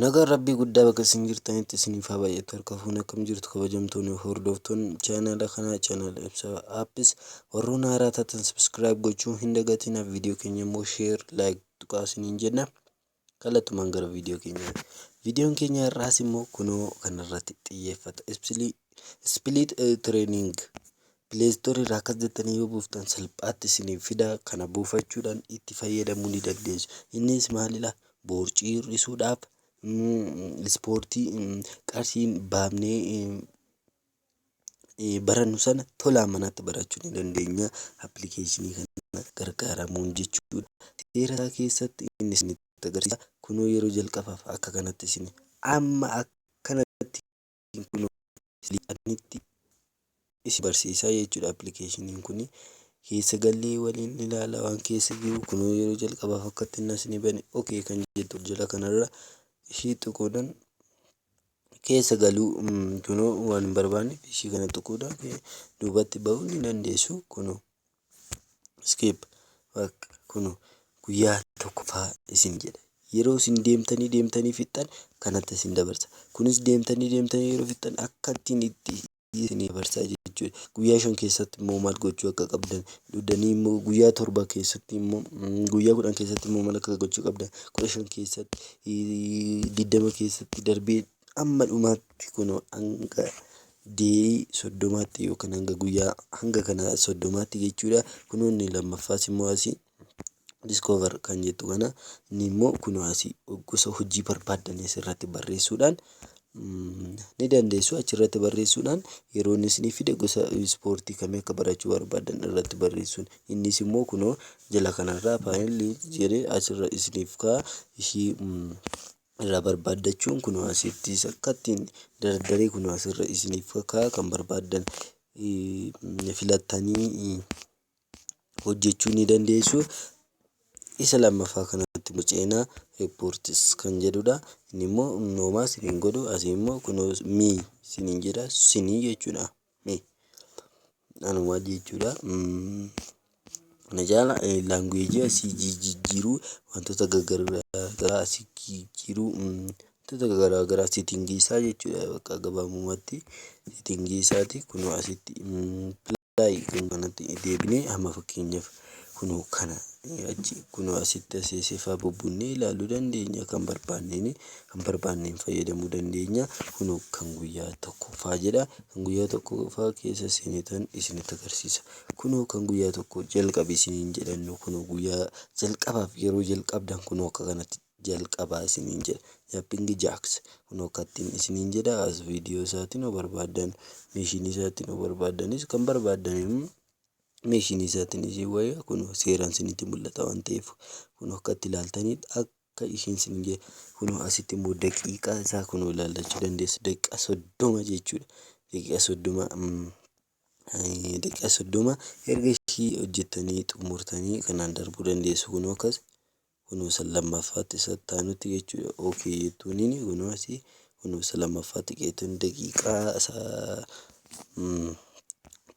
Nagaan Rabbii guddaa bakka isin jirtanitti isiniif haa baay'atu harka fuune akkam jirtu kabajamtoonni hordoftoonni chaanaala kanaa chaanaala ibsaa appis warroon haaraa taatan subscribe gochuu hin dagatina viidiyoo keenya immoo share like tuqaa isiniin jenna kallattumaan gara viidiyoo keenya viidiyoon keenya har'aas immoo kunoo kanarratti xiyyeeffata ispiliit treening Play Store irraa akkas jettanii yoo buuftan salphaatti isiniif fida. Kana buufachuudhaan itti fayyadamuu ni dandeessu. Innis maalidha? Boorcii hir'isuudhaaf, mm, ispoortii mm, qarshii hin baafnee mm, eh, barannu sana tolaan manatti barachuu ni dandeenya. Appilikeeshinii kana gargaaramuun jechuudha. Seera isaa keessatti inni isinitti agarsiisa. Kunoo yeroo jalqabaaf akka kanatti isin amma akkanatti Application kun silii admitti isi barsiisaa jechuudha application kun keessa gallee waliin ilaala waan keessa jiru kunoo yeroo jalqabaaf akkatti inni asini bane okay kan jettu jala kanarra ishii xuquudhan keessa galuu kunoo waan hin barbaanne ishii kana xuquudhan duubatti ba'uu ni dandeessu kunoo Skip. Bak, kuno, guyyaa tokkoffaa isin jedha. Yeroo isin deemtanii deemtanii fixxan kanatti isin dabarsa. Kunis deemtanii deemtanii yeroo fixxan akka ittiin itti isin dabarsaa jechuudha. Guyyaa shan keessatti immoo maal gochuu akka qabdan dudanii immoo guyyaa torba keessatti immoo mm, guyyaa kudhan keessatti immoo maal akka gochuu qabdan kudha shan keessatti eh, digdama keessatti darbee Amma dhumaatti kunoo hanga day soddomaatti yookaan hanga guyyaa hanga kana soddomaatti jechuudha. Kunoo inni lammaffaas immoo asii discover kan jettu kana inni immoo kunoo asii gosa hojii barbaaddan asirratti barreessuudhaan mm, ni dandeessu achirratti barreessuudhaan yeroo inni isinii fide gosa ispoortii kamii akka barachuu barbaaddan irratti barreessuun innis immoo kunoo jala kanarraa faayilli jedhee asirra isiniif kaa ishii mm, irraa barbaaddachuun kunoo asitti akkattiin dardaree kunoo asirra isiniif kakaa kan barbaaddan filattanii hojjechuu ni dandeessu. Isa lammaffaa kanatti nu ceenaa reports kan jedhudha. Inni immoo noomaa isin hin godhu asii immoo kunoo me isiniin jedha isinii jechuudha. mee anuma jechuudha. Na jaala laanguweejii asii jijjiiruu wantoota garaagaraa asii jijjiiruu wantoota garaagaraa seetingii isaa jechuudha bakka gabaabumatti seetingii isaati kunoo asitti pilaay kan kanatti deebinee amma fakkeenyaaf Kunoo kana achi kunoo asitti asii sifaa bubbunnee ilaaluu dandeenya kan barbaanneen kan barbaanneen fayyadamuu dandeenya kunoo kan guyyaa tokkoffaa jedha kan guyyaa tokkoffaa keessa seenitan isinitti agarsiisa kunoo kan guyyaa tokko jalqabi isiniin jedhannu kunoo guyyaa jalqabaaf yeroo jalqabdan kunoo akka kanatti jalqabaa isiniin jedha yappingi jaaks kunoo akkattiin isiniin jedha as viidiyoo isaatiin yoo barbaaddan meeshinii isaatiin yoo barbaaddanis kan barbaaddan animeeshinii isaatiin ishee wayya kunoo seeraan isinitti mul'ata waan ta'eef kunoo akka itti ilaaltaniif akka isheen isin jee kunoo asitti immoo daqiiqaa isaa kunoo ilaallachuu dandeessu daqiiqaa soddoma jechuudha daqiiqaa soddoma mm, eh, daqiiqaa soddoma erga ishii hojjettanii xumurtanii kanaan darbuu dandeessu kunoo akkas Kunoo isa lammaffaatti isa itti aanutti jechuudha. OK jettuuniin kunoo asii kunoo isa lammaffaatti qeetuun daqiiqaa isa mm,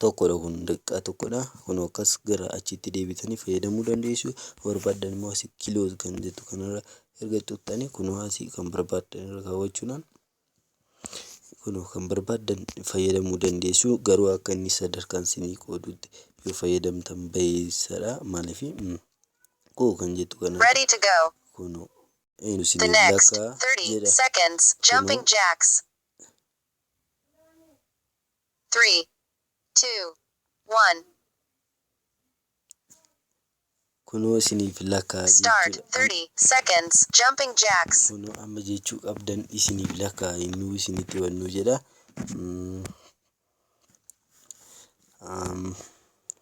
tokkodha kun daqiiqaa tokkodha. Kunoo akkas gara achiitti deebitanii fayyadamuu dandeessu. Barbaaddan immoo asii kiloos kan jettu kanarra erga xuqxanii kunoo asii kan barbaaddan irra kaawwachuudhaan Kunoo kan barbaaddan fayyadamuu dandeessu garuu akka inni sadarkaan isinii qoodutti yoo fayyadamtan bayeessadha maaliif koo kan jettu kana Ready to go. kunoo eenu The isinii next lakkaa 30 jedha seconds, jumping kunoo jacks. Three, two, one. Kunoo isiniif lakkaa'a jechuu dha. Start 30 seconds jumping jacks. Kunoo amma jechuu qabdan isiniif lakkaa'a yennuu isinitti bannu jedha. Am,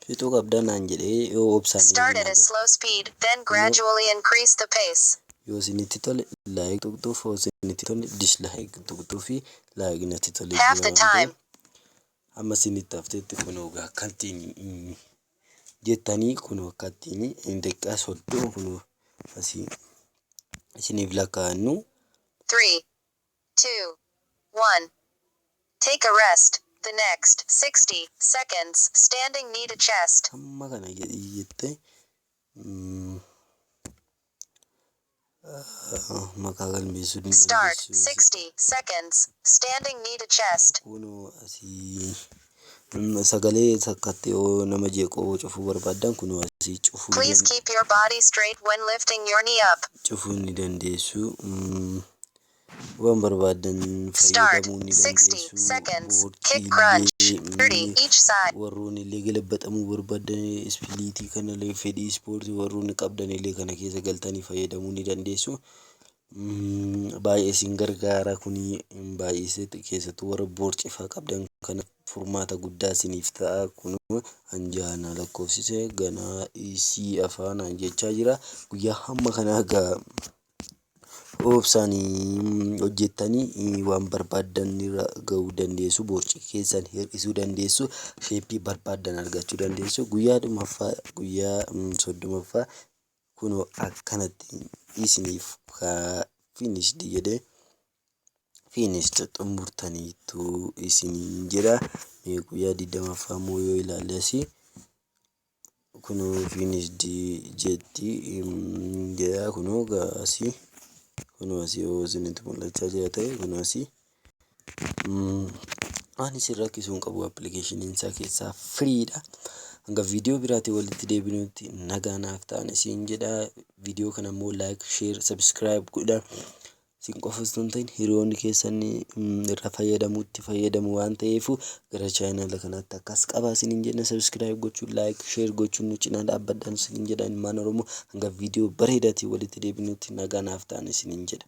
fixuu qabda naan jedhee yoo obsaan Start eegan at a haga. slow speed, then Kunoo gradually increase the pace. yoo isinitti tole like tuqxuuf, yoo isinitti hin tolle dislike tuqxuufi like natti tolee Half jira the waan ta'eef. time. Amma isinitti hafteetti kunoo gaa akkattiin jettanii kunoo akkattiin hin daqiiqaa soddoma kunoo asii isiniif lakkaa'annu. Three, two, one. Take a rest. The next sixty seconds standing knee to chest. Amma kana jedhii jettee. mm, maqaa galmeessuu ni Start dandeessu. 60 seconds. Standing knee to chest. Kunoo asii mm, sagalee takkatti yoo nama jeequ yoo cufuu barbaaddan kunoo asii cufuu ni Please dand keep your body straight when lifting your knee up. cufuu ni dandeessu. mm. Waan barbaaddan fayyadamuu ni dandeessu. Boordiilee warroonillee galabbaxamuu barbaaddan ispiliitii kanalee fedhii ispoortii warroonni qabdanillee kana keessa galtanii fayyadamuu ni dandeessu. Baay'ee isin gargaara kuni baay'ee keessattuu warra boorcifaa qabdan kana furmaata guddaa isiniif ta'a kun anjaana lakkoofsise ganaa isii afaanaan jechaa jira guyyaa hamma kanaa gaa Obsaan hojjettanii waan barbaaddan irra gahuu dandeessu. Boorci keessan hir'isuu dandeessu. Sheeppii barbaaddan argachuu dandeessu. Guyyaa dhumaffaa guyyaa soddomaffaa kunoo akkanatti isiniif finished jedhe finished xumurtaniittu isiniin jedha. Guyyaa digdamaffaa immoo yoo ilaalle asii. Kunoo ofiin isdi jetti gaa kunoo gaa asii kunoo asii yoo isinitti mul'achaa jira ta'e kunoo asii waan isin rakkisu hin qabu appilikeeshiniin isaa keessaa firiidha. Hanga viidiyoo biraatiin walitti deebinutti nagaa naaf ta'aa isiin jedha viidiyoo kana immoo laayik sheer sabiskiraayib godhaa. Isin qofa osoo hin ta'in hiriyoonni keessan irra fayyadamu itti fayyadamu waan ta'eef gara chaayinaala kanaatti akkas qaba isiniin jenna sabiskiraayib gochuun laayik sheer gochuun nu cinaa dhaabbadhaan isiniin jedha ilmaan oromoo hanga viidiyoo bareedaatiin walitti deebinutti nagaa naaf ta'an isiniin jedha.